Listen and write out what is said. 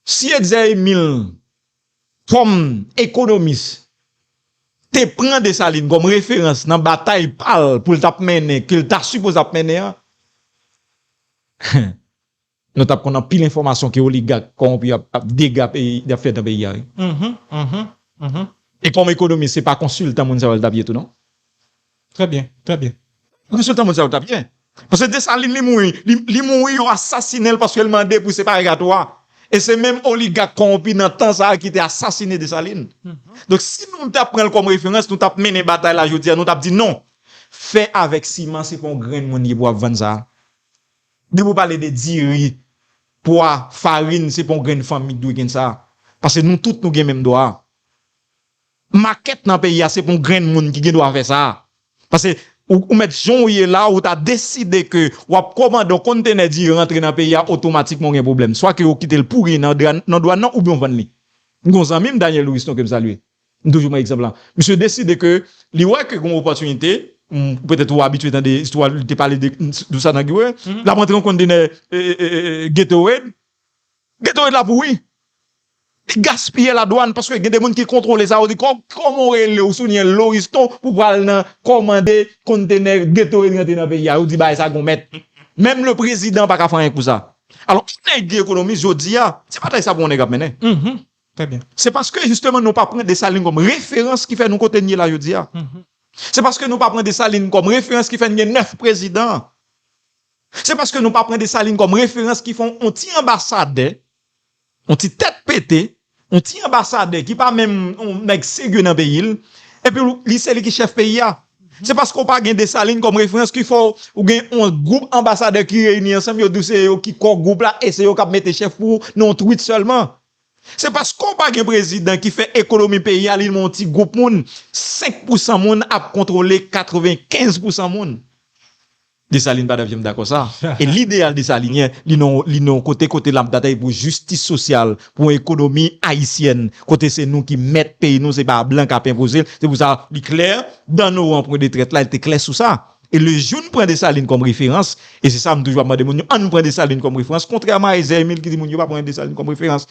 Si Etzer Emile kòm ekonomis te pran Dessalines kòm referans nan batay pa l pou l t ap mennen, ke l ta sipoze ap mennen an, nou t ap konn anpil enfòmasyon ke oligak kòwonpi yo ap dega peyi, y ap fè nan peyi a wi. E kòm ekonomis se pa konsiltan moun sa yo l t ap ye tou non. Trè byen, trè byen. Resilta mondyal ou ta byen. Paske Desalin li mouri, li mouri yo asasinen l paske l mande pou separegatwa. E se menm oligak kowonpi nan tan sa a ki te asasinen Desalin. Donk si nou ta pran l kòm referans, nou t ap mennen batay la jodi a, nou t ap di non, fè avèk siman se pa yon grenn moun ki pou ap vann sa a. Depi ou pale de diri, pwa, farin, se pa yon grenn fanmi ki dwe gen sa a. Paske nou tout nou gen menm dwa a. Makèt nan peyi a se pou grenn moun ki gen dwa fè sa. Pase ou mèt jan ou ye la ou ta deside ke wap komande yon konntenè diri rantre nan peyi a otomatikman ou gen pwoblèm. Swa ke ou kite l pouri nan dwàn nan oubyen ou vann li. M gen yon zanmi m Daniel Louiston ke m salye. M toujou pran egzanp la. Misye deside ke li wè ke gen yon opòtinite, petèt ou abitye tande istwa li te pale de sa nan Gatorade. Lap rantre yon konntenè Gatorade. Gatorade la pouri. Li gaspiye la dwann paske gen de moun ki kontrole sa yo di koman ou rele ou souliyen loriston pou pral nan komande kontenè geto e rantre nan peyi a yo di bagay sa gon mèt menm le prezidan paka fè anyen pou sa alò ou nèg ki ekonomis jodi a se batay sa pou yon nèg ap mennen se paske jisteman nou pa pran Dessalines kòm referans ki fè nou kote n ye la jodi a se paske nou pa pran Dessalines kòm referans ki fè n gen 9 prezidan se paske nou pa pran Dessalines kòm referans ki fè yon ti anbasadè. On ti tèt pete, on ti anbasadè ki pa menm on nèg serye nan peyi l, epi w li se li ki chèf peyi a. Se paske w pa gen Desalin kòm referans ki fè w gen on gwoup anbasadè ki reyini ansanm yo di w se yo ki kò gwoup la e se yo k ap mete chèf pou w nan on twit sèlman. Se paske w pa gen prezidan ki fè ekonomi peyi a li nan on ti gwoup moun, 5 pousan moun ap kontwole 95 pousan moun. Desalin pa devyem dakò sa. E lideyal desalinyen li nan li nan yon kote kote lap batay pou jistis sosyal, pou yon ekonomi ayisyèn kote se nou ki mèt peyi nou se pa blan kap enpozel. Se pou sa li klè dan nou an pwen de trèt la li te klè sou sa. E le jou n pran Desalin kòm referans e se sa m toujou ap mande moun yo ann pran Desalin kòm referans kontrèman a Ezè Emil ki di moun yo pa pran Desalin kòm referans.